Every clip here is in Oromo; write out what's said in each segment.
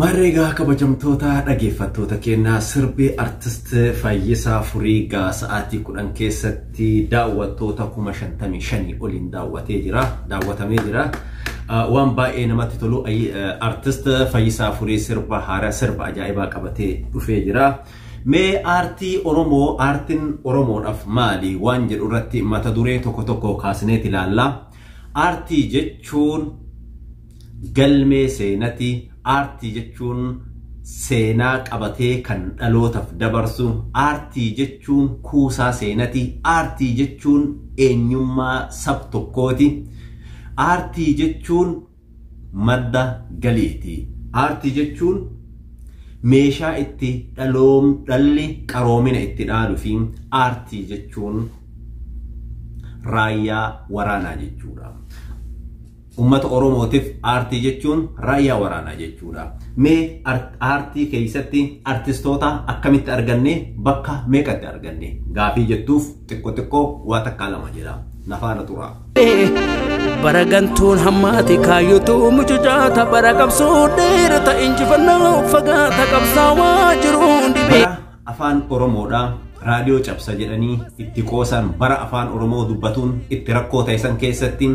Maarree egaa kabajamtoota dhageeffattoota keenya sirbi Artist Fayyisaa Furii gaa sa'aatii kudhan keessatti daawwattoota kuma shantamii shanii oliin daawwatee jira daawwatamee jira waan baay'ee namatti tolu Artist Fayyisaa Furii sirba haaraa sirba ajaa'ibaa qabatee dhufee jira. Mee aartii Oromoo aartiin Oromoodhaaf maali waan jedhu irratti mata duree tokko tokko kaasneeti ilaalla. Aartii jechuun Galmee seenati aartii jechuun seenaa qabatee kan dhalootaf dabarsu aartii jechuun kuusaa seenati aartii jechuun eenyummaa sab tokkooti aartii jechuun madda galiiti aartii jechuun meeshaa itti dhaloom dhalli qaroomina itti dhaalu fi aartii jechuun raayyaa waraanaa jechuudha. Ummata Oromootif aartii jechuun raayyaa waraanaa jechuudha. Mee aartii keessatti artistoota akkamitti arganne bakka meeqatti arganne gaafii jettuuf xiqqo xiqqo waa takkaa lama jedha. Nafaana turaa. bara gantuun hammaati kaayyotu mucucaata bara qabsoo dheerata injifannoo fagaata qabsaawaa jiruun dhibee. afaan oromoodha raadiyoo cabsa jedhanii itti qoosan bara afaan oromoo dubbatuun itti rakkoo ta'isan keessatti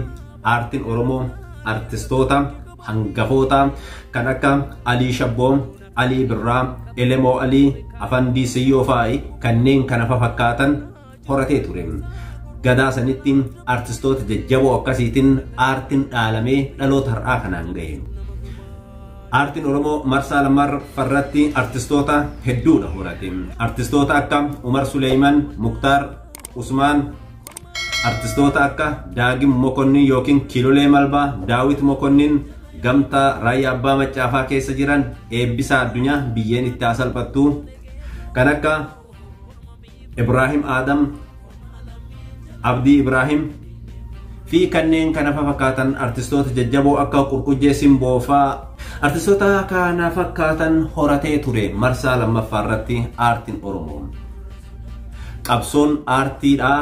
aartiin oromoo artistoota hangafoota kan akka alii shabboo alii birraa elemoo alii afandii siyyoo faa'i kanneen kana fafakkaatan horatee ture. Ganaa sanitti artistoota jajjaboo akkasiitiin aartiin dhaalamee dhaloota har'aa kanaan ga'e. Aartiin Oromoo marsaa lammaffaarratti artistoota hedduudha horate. Artistoota akka Umar Suleeyman, Muktaar, Usmaan, artistoota akka Daagim Mokonnin yookiin Kilolee Malbaa, Daawit Mokonnin, Gamtaa, Raayyaa Abbaa Maccaafaa keessa jiran eebbisaa addunyaa biyyeen itti haa salphattu. Kan akka Ibraahim Aadam, Abdii Ibraahim fi kanneen kana fakkaatan artistoota jajjaboo akka Qurqujjee Simboo faa artistoota kana fakkaatan horatee ture marsaa lammaffaa irratti aartiin Oromoo. Qabsoon aartiidhaa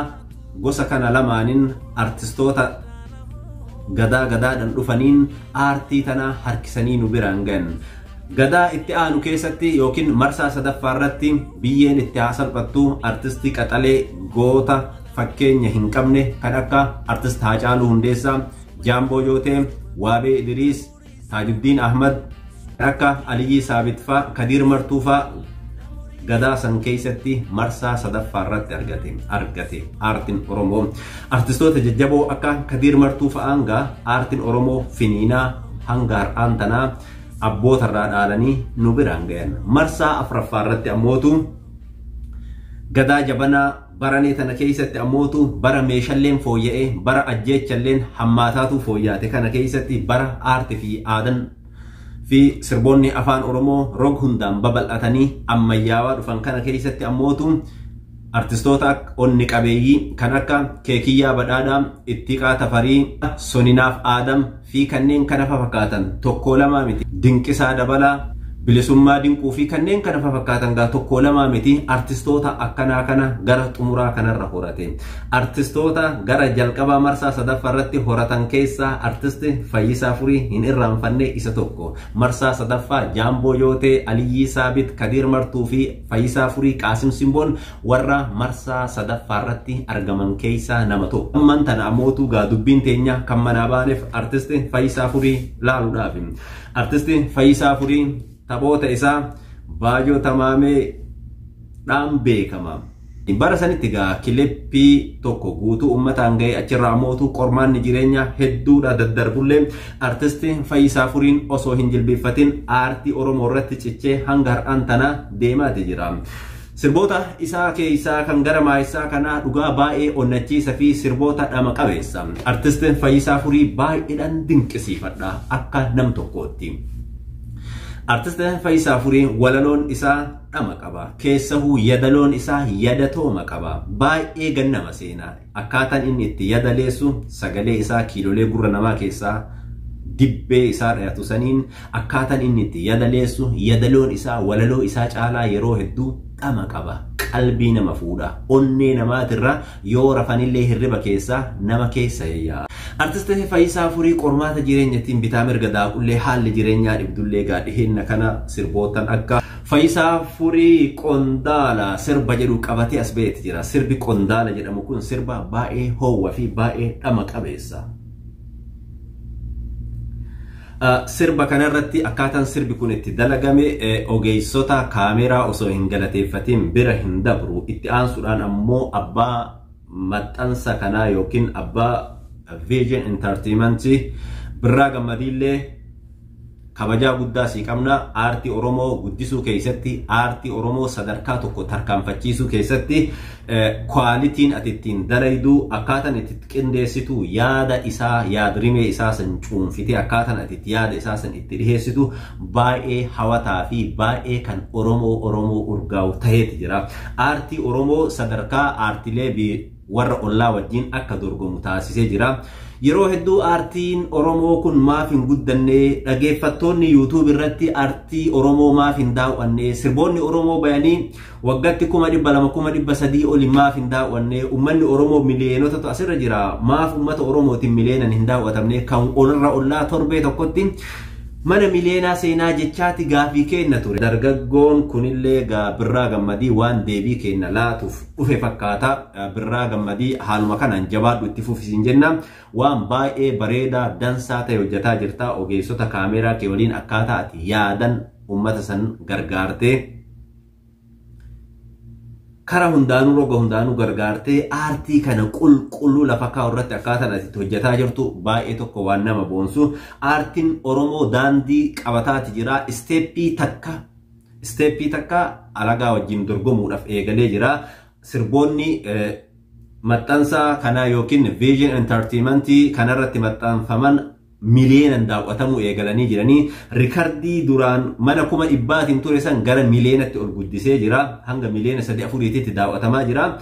gosa kana lamaaniin artistoota gadaa gadaadhaan dhufaniin aartii tana harkisanii nu biraan gahan. Gadaa itti aanu keessatti yookiin marsaa sadaffaa irratti biyyeen itti haa salphattu artistii qaxalee goota fakkeenya hin qabne kan akka artist Haacaaluu Hundeessaa, Jaamboo Jootee, Waabee Idiriis, Taajuddiin Ahmad, kan akka Aliyyii Saabit faa, Kadiir Martuu faa gadaa san keessatti marsaa sadaffaa irratti argate argate aartiin Oromoo artistoota jajjaboo akka Kadiir Martuu fa'aan gaa aartiin Oromoo finiinaa hanga har'aan tanaa abboota irraa dhaalanii nu biraan gayan. Marsaa afraffaa irratti ammootu gadaa jabanaa baranee tana keessatti ammootu bara meeshalleen fooyya'ee bara ajjeechalleen hammaataatu fooyyaate kana keessatti bara aarti fi aadan fi sirboonni afaan oromoo rog hundaan babal'atanii ammayyaawaa dhufan kana keessatti ammootu Artistoota onni qabeeyyii kan akka Keekiyyaa Badhaadhaa, Ittiqaa Tafarii, Soninaaf Aadam fi kanneen kana fafakkaatan tokkoo lamaa miti. Dinqisaa Dabalaa, Bilisummaa Dinquu fi kanneen kana fafakkaatan gaa tokkoo lamaa miti artistoota akkanaa kana gara xumuraa kanarra horate. Artistoota gara jalqabaa marsaa sadaffaa irratti horatan keessaa artisti Fayyisaa Furii hin irraanfanne isa tokko. Marsaa sadaffaa Jaamboo Yootee, Aliyyii Saabit, Kadiir Martuu fi Fayyisaa Furii Qaasim Simboon warra marsaa sadaffaa irratti argaman keessaa nama tokko. Ammaan tana ammootu gaa dubbiin teenya kan manaa baaneef artisti Fayyisaa Furii laaluudhaaf. Artisti Fayyisaa Furii taphoota isaa Baajoo Tamaamee dhaan beekama. Bara sanitti egaa kilippii tokko guutuu uummataan ga'e achirraa ammoo utuu qormaanni jireenyaa hedduudha daddarbullee artisti Fayyisaa Furiin osoo hin jilbiiffatin aartii Oromoo irratti cichee hanga har'aan tanaa deemaati jira. Sirboota isaa keessaa kan gara maayessaa kanaa dhugaa baay'ee onnachiisa fi sirboota dhama qabeessa. Artisti Fayyisaa Furii baay'eedhaan dinqisiifadha akka nam tokkootti. Artisti Fayyisaa Furii walaloon isaa dhama qaba keessahu yadaloon isaa yadatooma qaba baay'ee gan nama seena akkaatan inni itti yadaleessu sagalee isaa kiilolee gurra namaa keessaa dibbee isaa dhayatu saniin akkaatan inni itti yadaleessu yadaloon isaa walaloo isaa caalaa yeroo hedduu dhama qaba qalbii nama fuudha onnee namaatirra Yoo rafanillee hirriba keessa nama keessa yayya. Artist Fayisaa Furii qormaata jireenyatiin bitaa mirga daaqullee haalli jireenyaa dhibdullee gaa dhiheenya kana sirboottan akka Fayisaa Furii Qondaala sirba jedhu qabatee as ba'eeti jira. Sirbi Qondaala jedhamu kun sirba baay'ee hoowwa fi baay'ee dhama qabeessa. Sirba kanarratti akkaataan sirbi kun itti dalagame ogeessota kaameeraa osoo hin galateeffatiin bira hin dabru. Itti aansuudhaan ammoo abbaa maxxansa kanaa yookiin abbaa Vision Entertainment Birraa Gammadiillee Kabajaa guddaa sii qabna aartii Oromoo guddisuu keessatti aartii Oromoo sadarkaa tokko tarkaanfachiisuu keessatti kwaalitiin ati ittiin dalaydu akkaataan itti qindeessitu yaada isaa yaadrimee isaa san cuunfitee akkaataan ati itti yaada isaa san itti dhiheessitu baay'ee hawataa fi baay'ee kan Oromoo Oromoo urgaa'u ta'eeti jira. Aartii Oromoo sadarkaa aartilee warra ollaa wajjin akka dorgomu taasisee jira. Yeroo hedduu aartiin Oromoo kun maaf hin guddanne, dhageeffattoonni YouTube irratti aartii Oromoo maaf hin daaw'anne, sirboonni Oromoo bayanii waggatti kuma dhibba lama kuma dhibba sadii oli maaf hin daaw'anne, uummanni Oromoo miliyoonotatu asirra jira, maaf uummata Oromootiin miliyoonan hin daaw'atamne, kan olirra ollaa torbee tokkotti mana miliyoonaa seenaa jechaati gaafii keenna ture. Dargaggoon kunillee gaa birraa gammadii waan deebii keenna laatuuf dhufe fakkaata birraa gammadii haaluma kanaan jabaadhu itti fufisin jenna waan baay'ee bareedaa dansaa ta'e hojjetaa jirta ogeessota kaameeraa kee waliin akkaataa ati yaadan uummata san gargaartee karaa hundaanuu roga hundaanuu gargaartee aartii kana qulqulluu lafa kaa'u irratti akkaataan ati itti hojjetaa jirtu baay'ee tokko waan nama boonsu aartiin oromoo daandii qabataati jira isteeppii takka Isteeppii takka alagaa wajjin dorgomuudhaaf eegalee jira. Sirboonni maxxansa kanaa yookiin Vision Entertainment kanarratti maxxanfaman miliyeenan daawwatamuu eegalanii jiranii rikardii duraan mana kuma dhibbaatiin ture san gara miliyeenatti ol guddisee jira. Hanga miliyeena sadii afuriititti daawwatamaa jira.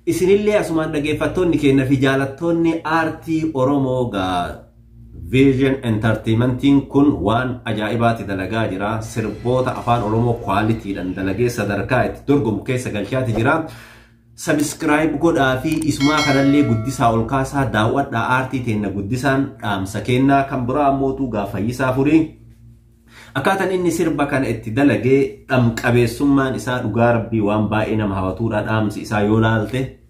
Isinillee asumaan dhageeffattoonni keenya fi jaalattoonni aartii Oromoo gaa Vision Entertaimentiin kun waan ajaa'ibaati dalagaa jira. Sirboota afaan Oromoo quality dhan dalagee sadarkaa itti dorgomu keessa galchaati jira. Subscribe godhaa fi isumaa kanallee guddisaa ol kaasaa daaw'adhaa aartii teenna guddisaan dhaamsa keennaa kan biraa ammootuu gaa fayyisaa furii. Akkaataan inni sirba kana itti dalagee dhamqabeessummaan isaa dhugaa rabbii waan baay'ee nama hawatuudha dhaamsi isaa yoo laalte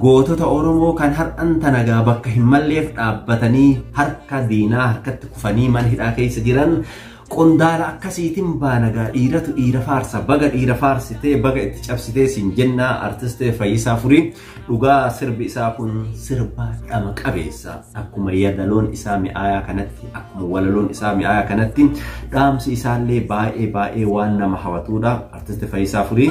Gootota Oromoo kan har'an tanagaa bakka hin malleef dhaabbatanii harka diinaa harkatti kufanii mana hidhaa keessa jiran qondaala akkasiitiin baanagaa dhiiratu dhiira faarsa baga dhiira faarsitee baga itti cabsitee siin jennaa artistee fayyisaa furii dhugaa sirbi isaa kun sirba dhama qabeessa akkuma yadaloon isaa mi'aayaa kanatti akkuma walaloon isaa mi'aayaa kanatti dhaamsi isaallee baay'ee baay'ee waan nama hawatuudha artiste fayyisaa furii.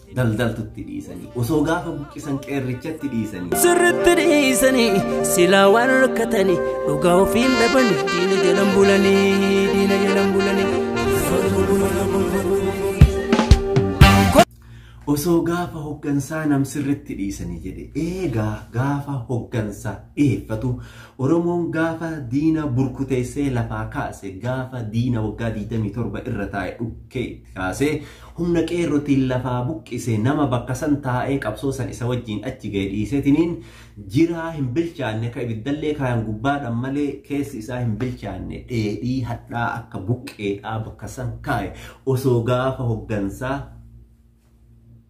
daldaltutti dhiisanii osoo gaafa buqqisan qeerrichatti dhiisanii. Sirritti dhiisanii silaa waan rakkatanii dhugaa ofiin dhabanii diina jalan bulanii diina jalan bulanii. Osoo gaafa hoggansaa nam sirritti dhiisanii jedhe eegaa gaafa hoggansa dhiyeeffatu Oromoon gaafa diina burkuteessee lafaa kaase gaafa diina waggaa 27 irra taa'e dhukkee kaasee humna qeerrotiin lafaa buqqise nama bakka san taa'ee qabsoo san isa wajjiin achi ga'e dhiisetiniin jiraa hin bilchaanne ka ibiddallee kaayan gubbaadhan malee keessi isaa hin bilchaanne dheedhii hadhaa akka buqqeedhaa bakka san kaaye osoo gaafa hoggansaa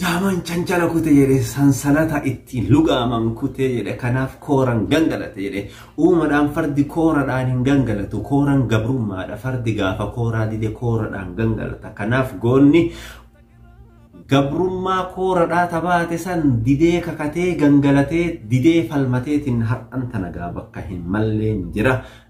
Daaman chanjala kute jedhe sansalata ittiin lugaaman kute jedhe kanaaf kooran gangalate jedhe uumadhaan fardi kooradhaan hin gangalatu kooran gabrummaadha fardi gaafa kooraa dide kooradhaan gangalata kanaaf goonni gabrummaa kooradhaa tabaate san didee kakatee gangalatee didee falmateetiin har'an tanagaa bakka hin malleen jira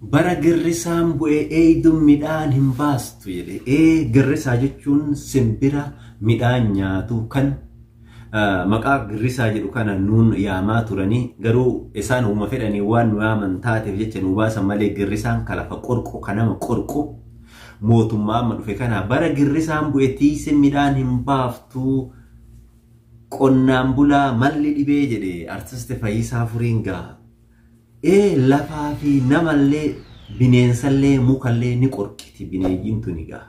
Bara girrisaan bu'e eeydun midhaan hin baastu jedhe. Ee girrisaa jechuun simbira midhaan nyaatu kan maqaa girrisaa jedhu kana nuun yaamaa turanii garuu isaan uuma fedhanii waan nu yaaman taateef jecha nu baasan malee girrisaan ka lafa qorqu ka nama qorqu mootummaa amma dhufe kana bara girrisaan bu'e tiiyse midhaan hin baaftu qonnaan bulaa malli dhibee jedhe artisti Fayyisaa Furiin gaha. Ee lafaa fi namallee bineensallee mukallee ni qorqiti bineeyyiin tuni gaa.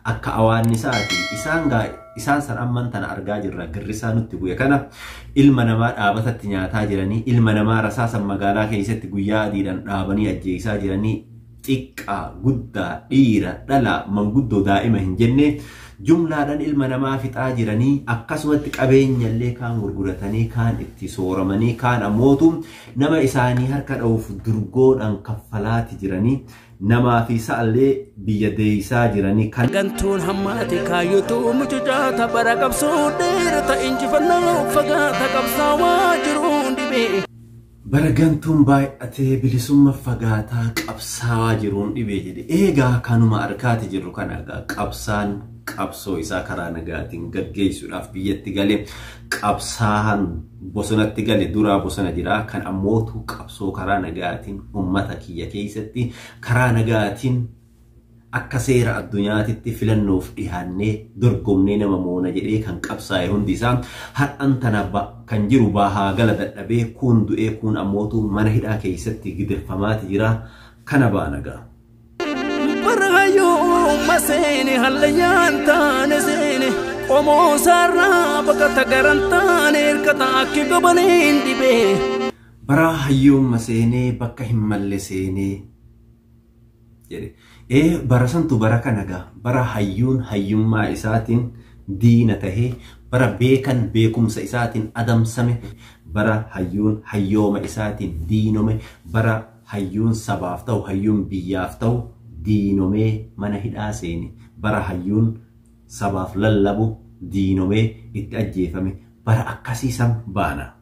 Akka awaannisaati. Isaan gaa isaan san amman tana argaa jirra girrisaa nutti bu'e kana ilma namaa dhaabatatti nyaataa jiranii ilma namaa rasaasan magaalaa keessatti guyyaa adiidhaan dhaabanii ajjeesaa jiranii xiqqaa, guddaa, dhiira, dhala, manguddoo, daa'ima hin jenne jumlaadhan ilma namaa fixaa jiranii akkasumatti qabeenya illee kaan gurguratanii kaan itti sooramanii kaan ammootu nama isaanii harka dha'uuf durgoodhan kaffalaati jiranii namaa fi sa'allee biyya deeysaa jiranii kan gantuun hammaate kaayyotu mucucaata bara qabsoo dheerata injifannoo fagaata qabsaawaa jiruun dhibee Bara gantuun baay'atee bilisumma fagaataa qabsaawaa jiruun dhibee jedhe. Eegaa kanuma arkaati jirru kana egaa qabsaan qabsoo isaa karaa nagaatiin gaggeessuudhaaf biyyatti gale qabsaan bosonatti gale duraa bosona jira kan ammootu qabsoo karaa nagaatiin ummata kiyya keessatti karaa nagaatiin Akka seera addunyaatitti filannoof dhihaannee dorgomnee nama moona jedhee kan qabsaa'e hundi isaa har'an tana kan jiru bahaa gala dadhabee kuun du'ee kuun ammootu mana hidhaa keessatti gidirfamaati jira kana baana gaa. Barhayyuuma seene hallayyaan taane seene qomoo saarraa baqata garan taane hirkata akki gobaneen dhibee. Baraa hayyuumma seenee bakka hin malle seenee. jedhe. Ee bara santu bara kana gaa bara hayyuun hayyummaa isaatiin diina tahe bara beekan beekumsa isaatiin adamsame bara hayyuun hayyooma isaatiin diinome bara hayyuun sabaaf tahu hayyuun biyyaaf tahu diinomee mana hidhaa seene bara hayyuun sabaaf lallabu diinomee itti ajjeefame bara akkasii san baana.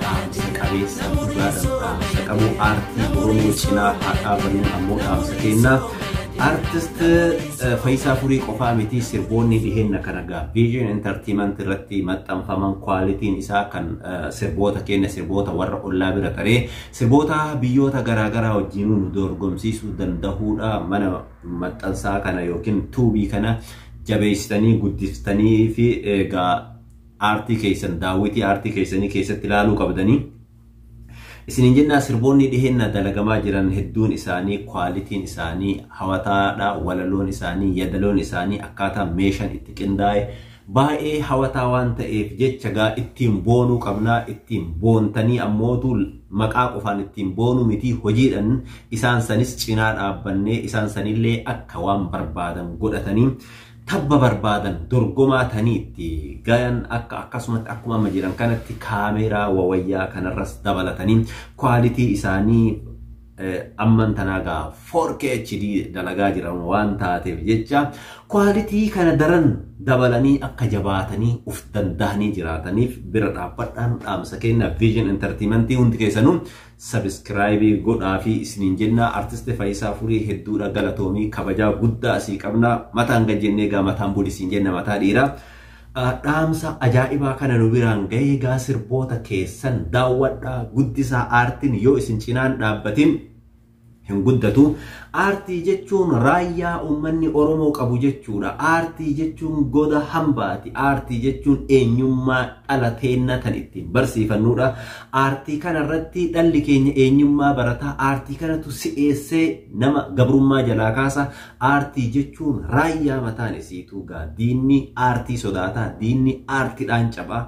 Dhaamsa qabeessa dhugaadhaan dhaamsa qabu aartii Oromoo cinaa haa dhaabannu ammoo dhaamsa keenna. Artist eh, Fayisaa Furii qofaa miti sirboonni dhiheenya kana gaa Vision Entertainment irratti maxxanfaman kwaalitiin isaa kan eh, sirboota keenya sirboota warra ollaa bira taree sirboota biyyoota garaagaraa wajjin nu dorgomsiisuu danda'uudha mana maxxansaa kana yookiin tuubii kana jabeessitanii guddiftanii fi egaa aartii keessan daawwitii aartii keessanii keessatti ilaaluu qabdanii. Isiniin jennaa sirboonni dhiheenna dalagamaa jiran hedduun isaanii kwaalitiin isaanii hawataadha walaloon isaanii yadaloon isaanii akkaataa meeshan itti qindaa'e baay'ee hawataa waan ta'eef jecha gaa ittiin boonuu qabnaa ittiin boontanii ammootu maqaa qofaan ittiin boonuu mitii hojiidhan isaan sanis cinaa dhaabbannee isaan sanillee akka waan barbaadan godhatanii tabba barbaadan dorgomaa tanii itti gayan akka akkasumatti akkuma amma jiran kanatti kaameeraa wawayyaa kanarras dabalatanii kwaalitii isaanii eh, amman tanaa gaa 4K HD dalagaa jiran waan taateef jecha kwaalitii kana daran dabalanii akka jabaatanii of dandahanii jiraataniif bira dhaabbadhaan dhaamsa kenna Vision Entertainment hundi keessanuu Sabiskiraayibii godhaafii isiniin jenna Artist Fayisaa Furii hedduudha galatoomii kabajaa guddaa sii qabna mataan gad jennee egaa mataan buli siin jenna mataa dhiiraa dhaamsa ajaa'ibaa kana nu biraan gahee egaa sirboota keessan daawwadhaa guddisaa aartiin yoo isin cinaan dhaabbatin hin guddatu. Aartii jechuun raayyaa uummanni Oromoo qabu jechuudha. Aartii jechuun goda hambaati. Aartii jechuun eenyummaa dhala teenna tan ittiin barsiifannuudha. Aartii kana irratti dhalli keenya eenyummaa barata. Aartii kanatu si'eessee nama gabrummaa jalaa kaasa. Aartii jechuun raayyaa mataan isiituu gaa diinni aartii sodaata. Diinni aartiidhaan caba.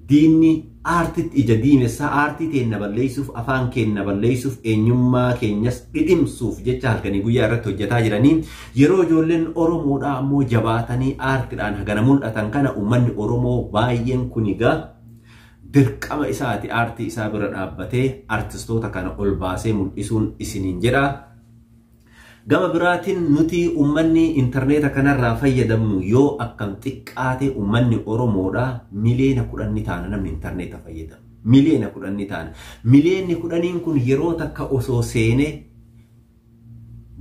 Diinni aartitti ija diimessaa aartii teenna balleessuuf, afaan keenna balleessuuf, eenyummaa keenyas dhidhimsuuf jecha halkanii guyyaa irratti hojjataa jiranii, yeroo ijoolleen Oromoodhaa ammoo jabaatanii aartidhaan hagana mul'atan kana ummanni Oromoo baayyeen kuni gaa dirqama isaati aartii isaa bira dhaabbatee artistoota kana ol baasee mul'isuun isiniin jedha. Gama biraatiin nuti ummanni interneeta kanarraa fayyadamnu yoo akkam xiqqaate ummanni Oromoodha miliyoona kudhan ni taana namni interneeta fayyadamu. Miliyoona kudhan ni taana. Miliyoonni kudhaniin kun yeroo takka osoo seene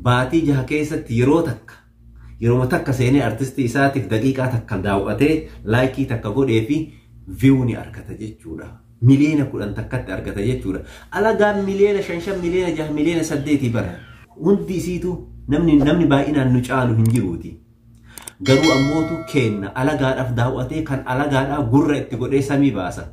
baatii jaha keessatti yeroo takka Yeroma takka seenee artistii isaatiif daqiiqaa takka daaw'atee laayikii takka godhee fi view ni argata jechuudha. Miliyoona kudhan takkatti argata jechuudha. Alagaan miliyoona shan shan miliyoona jaha miliyoona saddeetii bara. Hundi isiitu namni namni baay'inaan nu caalu hin jiruuti. Garuu ammootu keenna alagaadhaaf daaw'atee kan alagaadhaa gurra itti godhee samii baasa.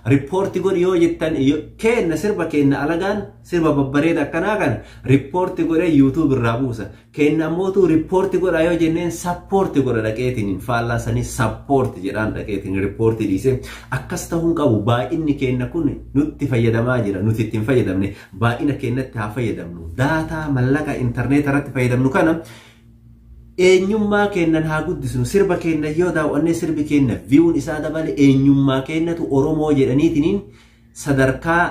Rippoorti godhi yoo jettan keenna sirba keenna alagaan sirba babbareeda akkanaa kana rippoorti godhee yuutuub irraa buusa. Keenna ammootu rippoorti godhaa yoo jenneen sappoorti godha dhaqeetiin faallaa sanii sappoorti jedhaan dhaqeetiin rippoorti dhiise. Akkas ta'uun qabu baay'inni keenna kun nutti fayyadamaa jira nuti itti hin fayyadamne baay'ina keennatti haa fayyadamnu. Daataa mallaqa intarneeta irratti fayyadamnu kana Eenyummaa keennan haa guddisnu. Sirba keenna yoo daaw'annee sirbi keenna view'n isaa dabale eenyummaa keennatu Oromoo jedhaniitiniin sadarkaa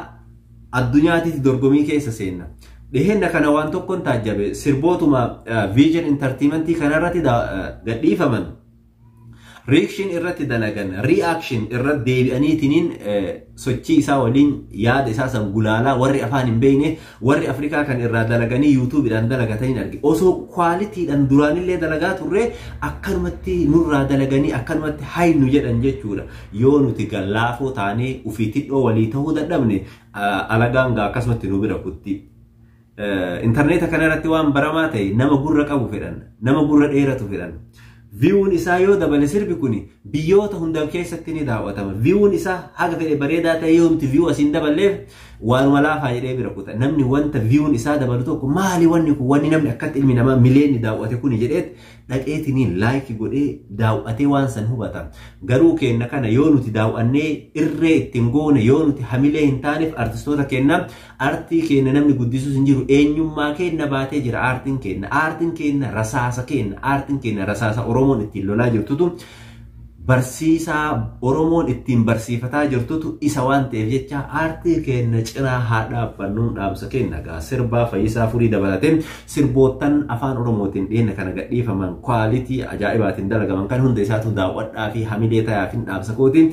addunyaatitti dorgomii keessa seenna. Dhiheenna kana waan tokkon taajjabe sirbootuma Vision Entertainment kanarratti gadhiifaman Reaction irratti dalagan, reaction irra deebi'aniitiniin sochii isaa waliin yaada isaa san gulaalaa warri afaan hin beekne warri Afrikaa kan irraa dalaganii yuutuubiidhaan dalagataniin arge. Osoo kwaalitiidhaan duraanillee dalagaa turre akkanumatti nurraa dalaganii akkanumatti haynu jedhan jechuudha. Yoo nuti gallaafoo taanee ofii tidhoo walii ta'uu dadhabne alagaan gaa akkasumatti nu bira kutti. Intarneeta kana irratti waan baramaa ta'e nama gurra qabu fedhan, nama gurra dheeratu fedhan. Viiwuun isaa yoo dabale sirbi kun biyyoota hunda keessatti ni daawwatama. Viiwuun isaa haga fedhe bareedaa ta'e yoomti viiwuu asiin daballeef waanuma laafaa jedhee bira kuta. Namni wanta viiwuun isaa dabalu tokko maali wanni kun wanni namni akkatti ilmi namaa mileenni daawwate kun jedheet dhaqeetiniin laayikii godhee daawwatee waan san hubata. Garuu keenna kana yoo nuti daawwannee irree ittiin goone yoo nuti hamilee hin taaneef artistoota keenna Artii keenna namni guddisus hin jiru. Eenyummaa keenna baatee jira aartiin keenna. Aartiin keenna rasaasa keenna. Aartiin keenna rasaasa Oromoon ittiin lolaa jirtutu barsiisaa Oromoon ittiin barsiifataa jirtutu isa waan ta'eef jecha aartii keenna cinaa haa dhaabbannuun dhaamsa keenna egaa sirbaa fayyisaa furii dabalatee sirboottan afaan Oromootiin dhiyeenya kana gadhiifaman kwaalitii ajaa'ibaatiin dalagaman kan hunda isaatu daawwadhaa fi hamilee tayaafin dhaamsa kootiin